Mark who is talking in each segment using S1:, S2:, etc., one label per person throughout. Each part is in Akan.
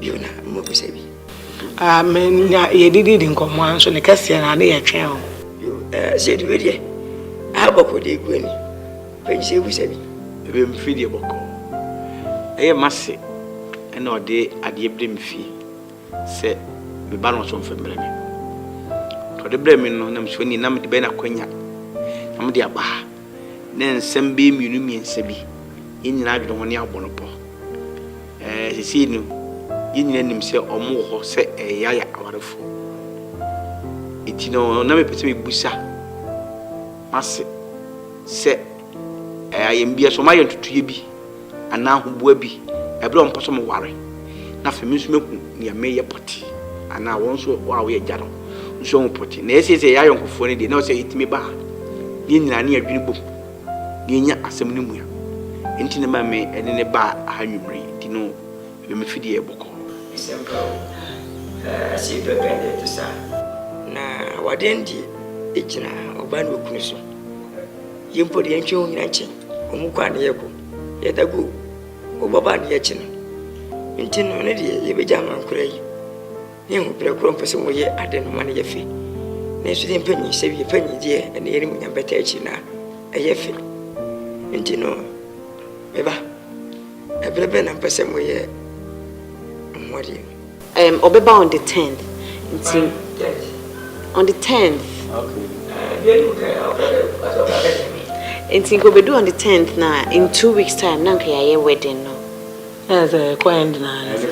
S1: bio na mobisa bi. Ah me na yɛdididi nkɔmmɔ ara nso ne kɛseɛ na ne yɛtwɛn o. Bio eh sɛ yɛdi wei deɛ ah bɔkɔ deɛ gu ani pɛgyi sɛ yɛbisa bi. Bio me firi deɛ bɔkɔ ɛyɛ mase ɛna ɔde adeɛ brɛ me fie sɛ me ba no ɔso mfa mbrɛ me ɔde brɛ me no na me sua ni na mede bɛyɛ no akwanya na mede aba ha. ne nsɛm bɛyɛ mmienu mmiɛnsa bi, yɛn nyinaa adwene ho ne abɔ no pɔ. Ɛɛ, seesei no, yɛn nyinaa nim sɛ wɔwɔ hɔ sɛ ɛyaya awarefoɔ. Enti no, na mepɛ sɛ mebisa m'ase sɛ, ɛɛ, ayɛm bi a, sɛ wɔayɛ ntotoeɛ bi anaa ahoboa bi bere a wɔpɛ sɛ wɔware, na afei me nso mehu nea meyɛ pɔtee anaa wɔn nso a wɔyɛ agya no nso ahu pɔtee. Na ɛsɛ sɛ yɛyɛ ayɔnkofoɔ no deɛ, na ɛwɔ sɛ yɛtumi ba a yɛn nyinaa ne adwene bom na yɛnya asɛm no mua. Enti na ɛma me ne no ba ha anwummere yi, nti no ɛma me fi deɛ bɔkɔɔ. Asɛm pa o, ase pɛpɛ na ɛte saa. Na awadeɛ no deɛ ɛgyina ɔbaa ne okunu so. Yɛn mpo deɛ yɛntwɛn wɔn nyinaa nkye wɔn kwan na yɛkɔ yɛda go wɔba ba adeɛ akyi no nti no ne deɛ yɛbɛgya ama nkora yi ne ɛho berɛ korɔ mpɛ sɛ wɔyɛ ade no ma no yɛ fɛ nanso deɛ mpanyin sɛ wie panyin deɛ ɛne yɛne mu nyam bɛta akyi na ɛyɛ fɛ nti no meba ɛberɛ bɛn na mpɛ sɛ moyɛ ho adeɛ no Um ɔbɛba on the tenth nti on the tenth. Okay. Nti nka obedu on the tenth na in two weeks time na nka yɛayɛ wedding no. Ɛyɛ sɛ ɛkɔ end na ano sa.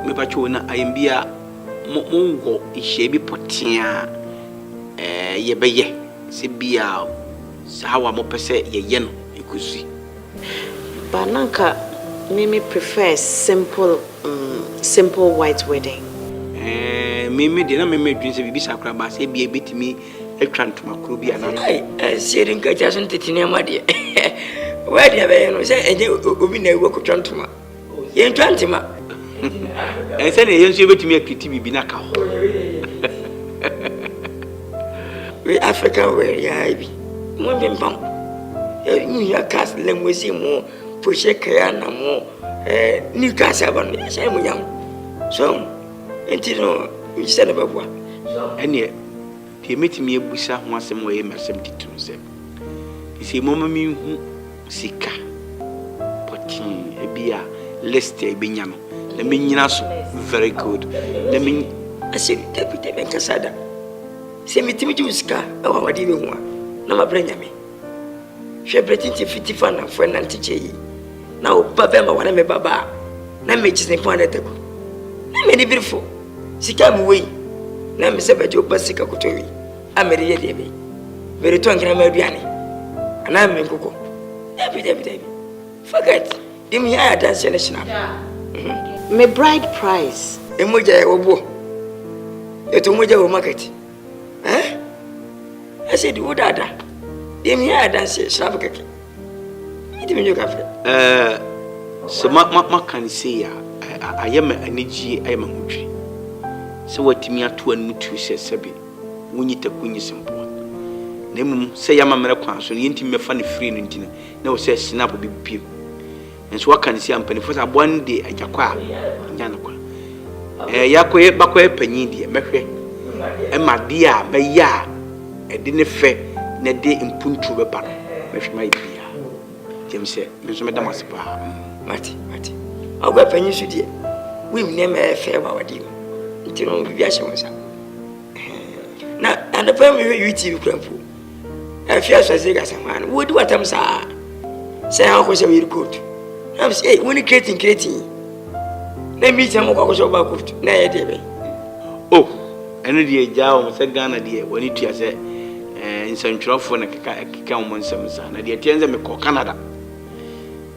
S1: Mepatwo na ayɛmbi a monwɔ nhyia bi pɔtee a eh, yɛbɛyɛ sɛ bi a saa wa mopɛ sɛ yɛyɛ no ɛkɔsi. But na anka me me prefer simple mm simple white wedding. Ɛɛɛ me me deɛ na me me dwen sɛ biribi saa koraa baasa ebia ebetumi atwa ntoma koro bi anaa. Ai ɛnsie de nkagya so ne tete nneɛma deɛ wedding a bɛyɛ no sɛ ɛnyɛ obi na awu akotwa ntoma. Yɛntwa ntema. Ɛnsɛ na yɛn nso yɛbɛtumi akiriti biribi na ka ho. We African were ya bi. Mo mpempam. Ɛmu hia kas lɛmwesi mo pohyɛ kaya na mo eh, new kas aba no yɛhyɛ mo yam. So, nti no, nkyɛ na bɛboa. Ɛneɛ Deɛ mɛtumi abisa ho asɛm wɔ yei m'asɛm titiriw sɛ, seisei momma menhu sika pɔtee bi a list a yɛbɛnya no na menyina so very good na me Ase, Dabi, Dabi, menka saa da. Sɛ metumi gye wo sika wɔ awadeɛ bi ho a, na mabrɛ Nyame. Hwɛ bere tenten fi Tiffany fo ɛnã ntekyɛ yi, na wo ba bɛma wɔ ne me ba ba a na me kyi ne pon ano atagu. Na me ni bere fo, sika a me wɔ yi, na me sɛ bɛgye wo ba sika kɔtɔ wi a me de yɛ deɛ bɛ. Me de tɔ nkena ma aduane. Anaa me nkokɔ. Dabi, dabi, dabi. Forget. Dem hia ayɛ adanseɛ ne hyena. Mhm. Me bride price. Emu gya yɛ wɔ boɔ. Yɛtɔ mu gya wɔ market. Eh? I said, who that? Dem here I dance here, shrub keke. It me you cafe. Eh, so ma ma ma can say ya. I am an energy, I am a mutri. So what me at one mutu says Sebi. When you take when you simple. Na mmom sɛ yɛama mmerɛ kwan so no yɛntumi bɛfa no firi no nti no na wɔ sɛ snap bi piem Nso waka no si a mpaninfoɔ sɛ aboa no deɛ agya kɔ a ɔnya no kwa. Ɛɛ yɛakɔyɛ bakɔyɛ panyin deɛ mɛhwɛ ɛma adeɛ a mɛyɛ a ɛde ne fɛ na ɛde mpuntuo bɛba no mɛhwɛ mayɛ biribiara. Gyem sɛ me nso mɛda mo ase paa. Mm. Mate mate. Ɔgua panyin so deɛ wonim nneɛma ɛyɛ fɛ wɔ awadeɛ mu nti no biribi ahyɛ wo nsa. Na anɔpa mehwɛ UTV kura mpo. Afia sɛ sɛ gasa hwan no wodi watam saa sɛ ha kɔ sɛ yiri court na sɛ ei woni kretin kretin na mi sɛ mo kɔ akɔsɛ ɔba court na ɛyɛ deɛ bɛ o oh,
S2: ɛno deɛ gyaa wɔn sɛ Ghana deɛ wɔn tua sɛ eh, nsɛntwerɛfoɔ na keka keka wɔn nsɛm saa na deɛ teɛ sɛ mekɔ Canada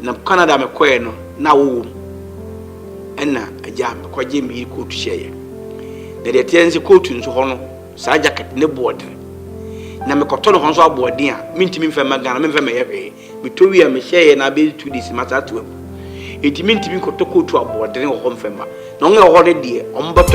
S2: na Canada mekɔɛ no na wowɔ mu ɛna agya mekɔgye me yiri kootu hyɛeɛ na deɛ teɛ sɛ kootu nso hɔ no Saa jacket ne boɔ den. Na me kɔtɔ no hɔ nso aboɔ den a me ntumi nfa mma Ghana me nfa mmɛyɛ hwee. Me tɔ wie a me hyɛ yɛ na abɛyɛ two days ma saa to agu. Enti me ntumi nkɔtɔ coat aboɔ den wɔ hɔ nfa mma. Na wɔn a ɛwɔ hɔ no deɛ wɔn bɛtɔ.